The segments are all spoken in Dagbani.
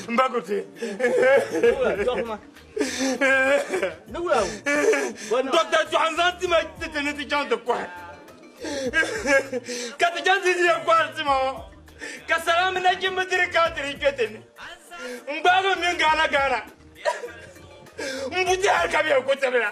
Mbakuti. Dɔkta Jɔhanzan ti ma tete ni ti chaŋ ti kɔhi. Ka ti chaŋ ti di yɛn kɔhiri ti ma o. Ka sala mini nachimba diri ka ti di kpe ti ni. N gbaagi m mini Gaana Gaana. M buti hali ka bɛ yɛn ku tibila.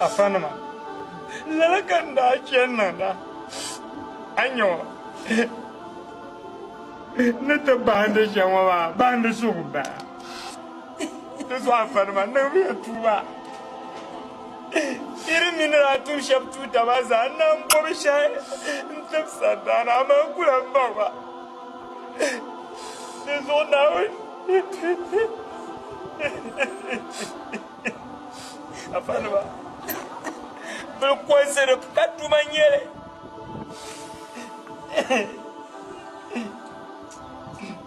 Afanima, lala ka n daa chani niŋda, a nya o ni ti bahindi shɛm ŋɔ maa, bahindi suhu m-bala. Di zuɣufanima niŋmiya tuuma shiri mini daa tum shɛb tuutaba zaa nam bɔbi shɛhi n-tib sandaana aman kula m-baŋ ba. Di zuɣu Naawuni afanima bilkɔnsi di ka tuma n-nyɛ li.